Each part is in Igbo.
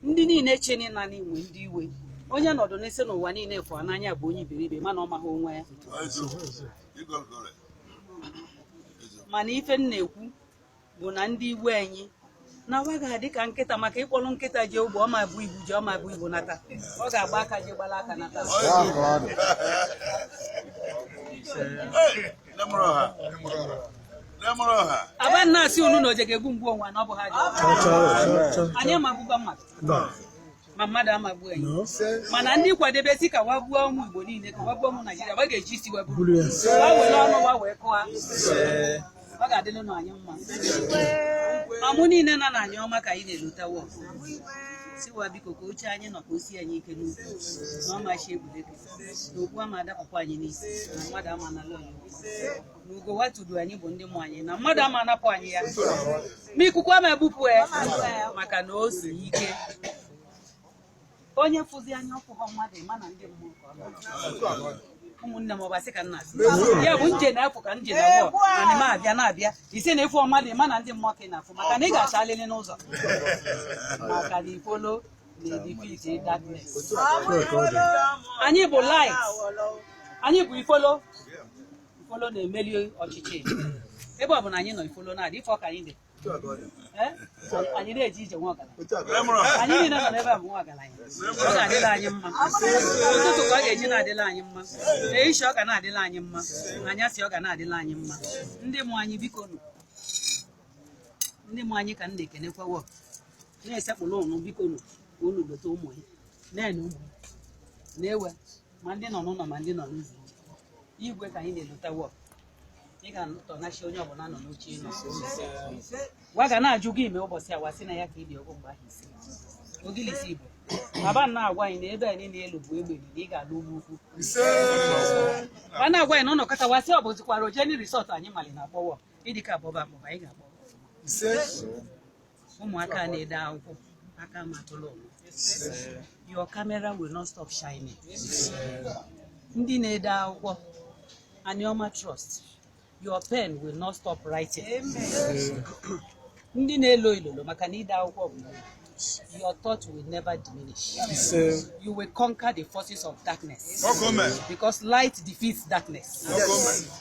ndị niile che na anyị nwe ndị iwe onye nọdụ na-asị na ụwa niile fụ a n'anya bụ onye iberibe mana ọ maghị onwe ya mana ife m na-ekwu bụ na ndị iwe anyị na wa ga-adị ka nkịta maka ị kpọlọ nkịta je ugbo ọ ma bu ibu je ọ ma bu ibu nata ọ ga-agba aka je gbala aka nata aba na-asị unu na o je ga-egbu m gbu onwe na ọ bụ ha anyị ama egbukwa mmadụ ma mmadụ ama egbu anyị mana ndị kwadebe sị ka wa gbuo ụmụ Igbo niile ka wa gbuo ụmụ Naijiria wa ga-eji isi wa buru wa were ọnụ wa wee kụwa ọ ga-adịlụ na anyị mma ọmụ niile nọ n'Anioma ka anyị na-elota wo sị wa biko ka oche anyị nọ ka o si anyị ike n'ukwu na ọmachi egwuregwu na okpu ama adapụkwa anyị n'isi na mmadụ ama anala anyị na ugo wa tudu anyị bụ ndị mụ anyị na mmadụ ama anapụ anyị ya ma ikuku ama ebupụ ya maka na o si ike onye fụzi anyị ọ fụghọ mmadụ ị ma na ndị mmụọ ka ọ na-achọ. ụmụnne m ọbasị ka nna asị ya bụ nje na-apụ ka nje na abụọ ana m abịa na-abịa ị sị na ị fụ mmadụ ị ma na ndị mmụọ ka ị na-afụ maka na ị ga-achalị anyị n'ụzọ maka na ifolo anyị bụ light anyị bụ ifolo ifolo na-emeli ọchịchị ebe ọ bụ na anyị nọ ifolo na-adị ife ọ ka anyị dị anyị na-eje ije nwa ọgaranya anyị niile nọ n'ebe a bụ nwa ọgaranya ọ na-adịla anyị mma ụtụtụ ka ọ ga-eji na-adịla anyị mma ehihie ọ ga na-adịla anyị mma anyasị ọ ga na-adịla anyị mma ndị mụ anyị biko nụ ndị mụ anyị ka m na-ekenekwa wo na-esekpuru unu biko nụ ka unu lota ụmụ ya na-ene ụmụ ya na-ewe ma ndị nọ n'ụlọ ma ndị nọ n'ụzọ igwe ka anyị na-elota wo ị ga-atọ n'oche onye ọbụla nọ n'oche ị nọ wa ga na-ajụ gị ime ụbọchị a wa sị na ya ka ibi ọgwụ mgbe ahụ isi ogilisi igbo baba na-agwa anyị na ebe a niile elu bụ egbe na ị ga-alụ ugwu ukwu ma na-agwa anyị na ụlọ kọta wa sị ọ bụzikwara ojeni risọt anyị mali na a kpọwọ ịdịka abụba abụba anyị ga-akpọ ụmụaka na-ede akwụkwọ aka ma tụlụ your camera will not stop shining ndị na-ede akwụkwọ Anioma Trust your pen will not stop writing Ndị na-elo ilolo maka na ide akwụkwọ bụ your thought will never diminish. You will conquer the forces of darkness. Because light defeats darkness.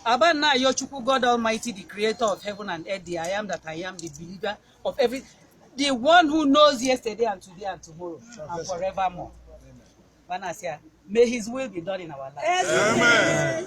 Aba na ayọ Chukwu God Almighty, the creator of heaven and earth, the I am that I am, the believer of every the one who knows yesterday and today and tomorrow and forevermore. Bana asị ya, may his will be done in our life. Amen.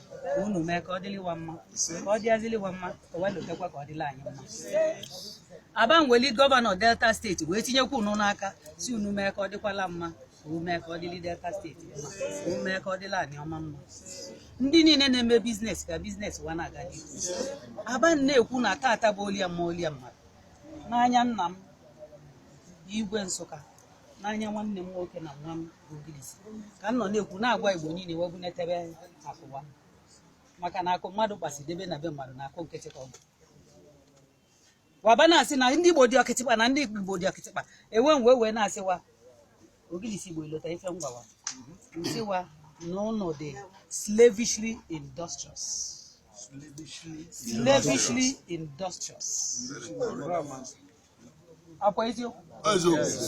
ka unu mee ka ọ dịlị wa mma ka ọ dịazilị wa mma ka wee lotekwa ka ọ dịla anyị mma Oborevwori gọvanọ delta steeti wee tinyekwa unu n'aka sị unu mee ka ọ dịkwala mma unu mee ka ọ dịlị delta steeti mma unu mee ka ọ dịlị Anioma mma ndị niile na-eme biznes ka biznes wa na-aga n'ihu aba na-ekwu na tata bụ olie mma olie mmadụ n'anya nna m igwe nsụka n'anya nwanne m nwoke na nwa m Ogilisi ka m nọ na-ekwu na-agwa Igbo niile wee bunatabe akụ wa maka na akụ mmadụ kpasị debe na be mmadụ na akụ nkịtị ka ọ bụ wa aba na-asị na ndị Igbo dị ọkịtịkpa na ndị Igbo dị ọkịtịkpa e wee wee na-asị wa Ogilisi Igbo i lota ife m gwa wa m sị wa na ụnụ dị slavishly industrious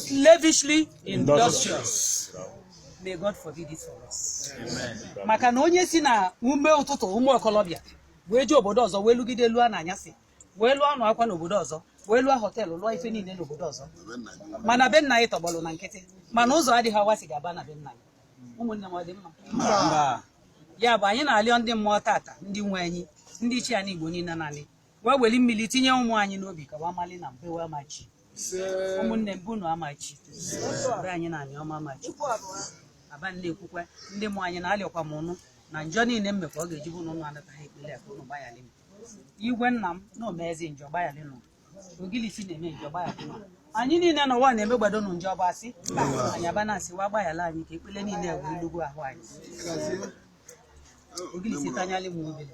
slavishly industrious may God forbid it for us maka na onye si na ume ụtụtụ ụmụ okolobịa wee jee obodo ọzọ wee lụgide lụọ na anyasị wee lụọ anụ akwa n'obodo ọzọ wee lụọ họteelụ lụọ ife niile n'obodo ọzọ mana be nna anyị tọgbọlụ na nkịtị mana ụzọ adịghị wa si ga-aba na be nna anyị ụmụnne m ọ dị mma ya bụ anyị na-alịọ ndị mmụọ tata ndị nwe anyị ndị ichie anyị Igbo niile na anị wa weli mmili tinye ụmụ anyị n'obi ka wa mali na be wa ama echi ụmụnne m bụ na ama echi be anyị na Anioma ama echi aba na-ekwukwa ndị mmụọ anyị na-alịọkwa m ụnụ na njọ niile m mekwa ọ ga-eji bụ na ụnụ anataghị ekpele ka ụnụ gbayalị m Igwe nna m na-emezi njọ gbayalị nụ Ogilisi na-eme njọ gbayalị nụ anyị niile na ụwa na-eme gbado nụ njọ bụ asị anyị aba na-asị wa gbayala anyị ka ekpele niile wee lugwu ahụ anyị Ogilisi tanyalị m obere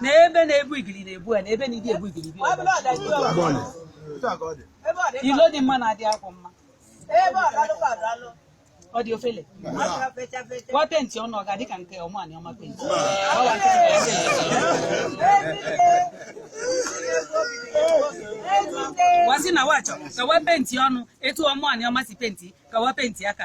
na ebe na-ebu igili na-ebu ya na ebe ndị ebu igili bi ilo dị mma na-adị akwụ mma ọ dị ofele wa penti ọnụ ọ ga-adị ka nke Ọmụ Anioma penti wa sị na wa chọ ka wa penti ọnụ etu Ọmụ Anioma si penti ka wa penti aka